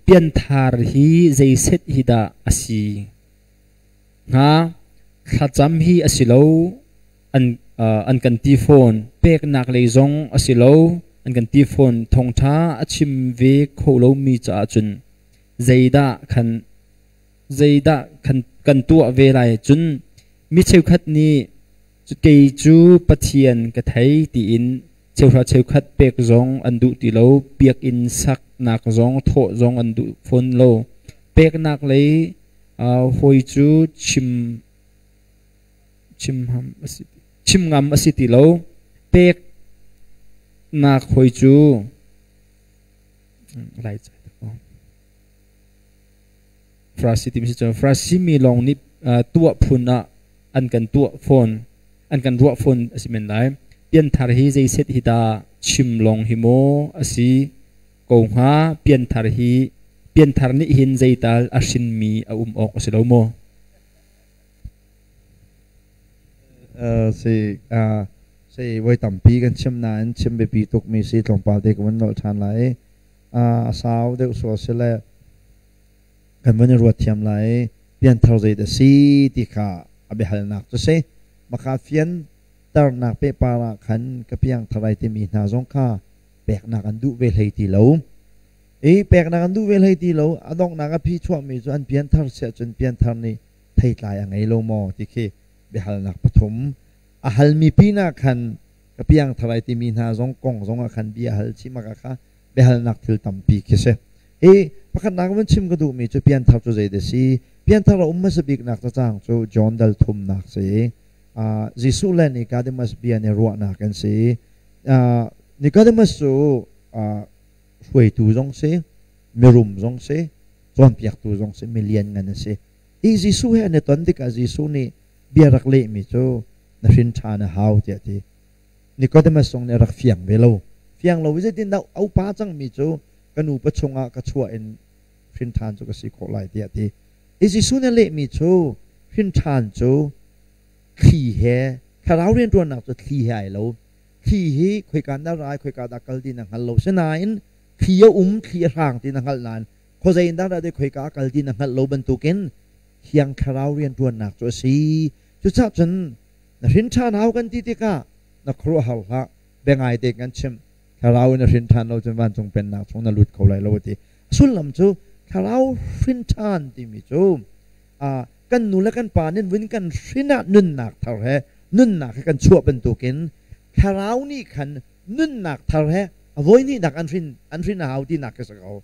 Pianthar hi zei set hi dah a si? Thlacam hi a si lo, an kan ti fawn. Peknak lei zong a si lo, an kan ti fawn. Thawngṭha a chim ve kho lomi caah cun zeidah kan tuah ve lai? Cun mi cheukhat nih Kei cu Pathian ka thei tiin cheuhra cheukhat pek zong an duh ti lo. Biakinn saknak zong thawh zong an duh fawn lo. Peknak lei uh, hawi cu chim chim ngam a si, chim ngam a si ti lo. Peknak hawi cu lai Farasi ti si cun Farasi mi lawng nih tuah phun ah an kan tuah fawn, an kan ruah fawn a si men lai. Pianthar hi zei set hi dah chim lawng hi maw a si ko hnga? Pianthar hi pianthar nih hin zeital a hrinmi a um awk a si lo maw? si si voi tampi kan chim nain chim biapi tukmi si tlawmpal te ka vun nolh ṭhan lai. a sau deuh sual si le kan van i ruat thiam lai pianthar zeidah si ti kha a biahalnak cu si maka fian ternak pehpar ah khan ka piang tharai timi hna zong kha peknak an duh ve hlei ti lo i peknak an duh ve hlei ti lo a donghnak a phi chuahmi cu an pianthar siah cun pianthar nih theitlai a ngei lo maw ti khi biahalnak pathum a halmi pin ah khan Ka piangthar ai timi hna zong kong zongah khan bia hal chim a kha biahalnak thil tampi khi si. Hi pakhatnak van chim ka duhmi cu pianthar cu zeidah si? Pianthar a um hmasa biknak cacang cu John dal thumnak si. Uh, Jesuh le Nicodemus bia nih ruahnak kan si. Uh, Nicodemus cu uh, hruaitu zong si, mirum zong si, cawnpiaktu zong si, milian ngan a si. Hi Jesuh he an i ton tikah Jesuh nih bia rak lehmi cu na hrin ṭhan a hau tiah a ti. Nicodemus zong nih a rak fiang ve lo. Fiang lo i zeitindah a upa cangmi cu ka nupa chungah ka chuah in hrin ṭhan cu ka si khawh lai tiah a ti. Hi Jesuh nih a lehmi cu hrin ṭhan cu thli he, thlarau rianṭuannak cu thli he ai lo. Thli hi khoika na ra i khoika dah kal ti na hngal lo. Sinain thli a um, thli a hrang ti na hngalh nain Khuazei in dah dah dai khoika kal ti na hngalh lo bantukin Thiang Thlarau rianṭuannak cu a si. Cucaah cun na hrinṭhan hau kan ti tikah na khuaruahhar hlah, biangai tein kan chimh. Thlarau in na hrin ṭhan lo cun vancung pennak chung na lut kho lai lo a ti. A sullam cu thlarau hrinṭhan timi cu aa, kan nu le kan pa nih vun kan hrin ah nunnak thar he nunnak he kan chuah bantukin thlarau nih khan nunnak thar he a voi hnihnak an hrin an hrin a hau tinak khi si ko.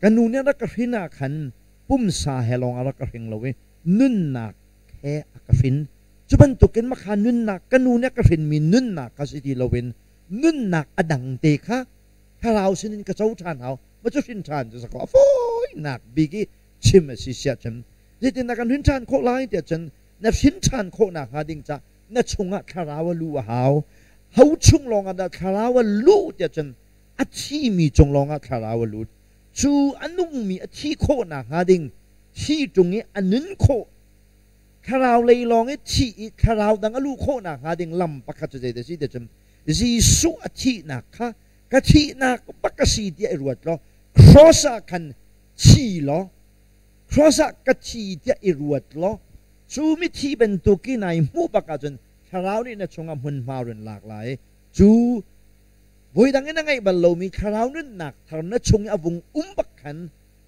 Ka nu nih a rak ka hrin ah khan pumsa he lawng ah rak ka hring lo i nunnak he a ka hrin. Cu bantukin makha nunnak ka nu nih a ka hrinmi nunnak kha si ti loin nunnak a dangte kha thlarau sinin ka co ṭhan hau. Mah cu hrin ṭhan cu sakaw a fawinak bik i chim a si siah cun zeitin dah kan hrin ṭhan khawh lai tiah cun na hrin ṭhan khawh nakhnga ding ca na chungah thlarau a lu a hau. Ho chung lawngah dah thlarau a luh tiah cun a thimi cung lawngah thlarau a lut. Cu a nungmi a thih khawh nakhnga ding thi ṭung i a nun khawh, thlarau lei lawng i thih i thlarau dang a luh khawh nakhnga ding lam pakhat cu zeidah a si ti cun Jesuh a thihnak kha ka thihnak bak ka si tiah i ruat law cross ah khan thi law cross ah ka thi tiah i ruat law cu mithi bantuk i nai hmuh bak ahcun thlarau nih na chungah hmunhma run lak lai i cu Voi dang in a ngeih bal lomi thlarau nunnak thar na chung i a vung um bak khan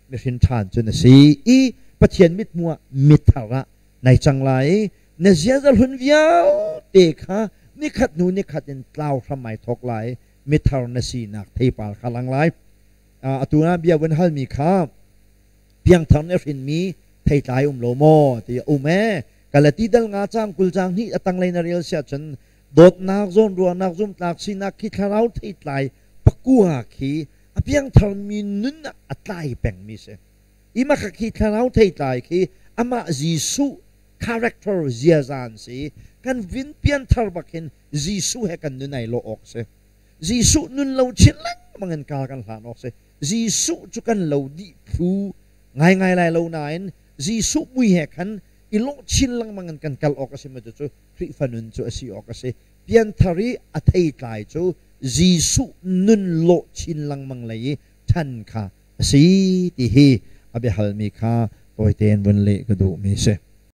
mi hrinthan cu na si i Pathian mithmuh ah mithar ah nai cang lai i na ziaza hlun vialte kha nikhat hnu nikhat in tlau hram ai thawk lai mithar na sinak theipar kha lang lai atu na bia kan halmi kha piangthar na hrinmi theitlai um lo maw ti um ee kalati dal nga cang kul cang hnih a tanglei na rel siah cun dawtnak zawnruahnak zumhtlak sinak khi thlarau theitlai pakua khi a piangtharmi nun ah a tlai pengmi si i maka khi thlarau theitlai khi amah Jesuh character ziaza an si kan vin pian thar bakin Jesuh he kan nun ai lo awk si Jesuh nun lo chin lengmang in kar kan hlan awk si Jesuh cu kan lo dih phu ngai ngai lai lo nain Jesuh mui he khan i lawh chin lengmang in kan kal awk a si macu cu Khrihfa nun cu a si awk a si. Pianthar i a theitlai cu Jesuh nun lawh chin lengmang lei i ṭhan kha a si ti hi a biahalmi kha tawi tein vun leh ka duhmi a si.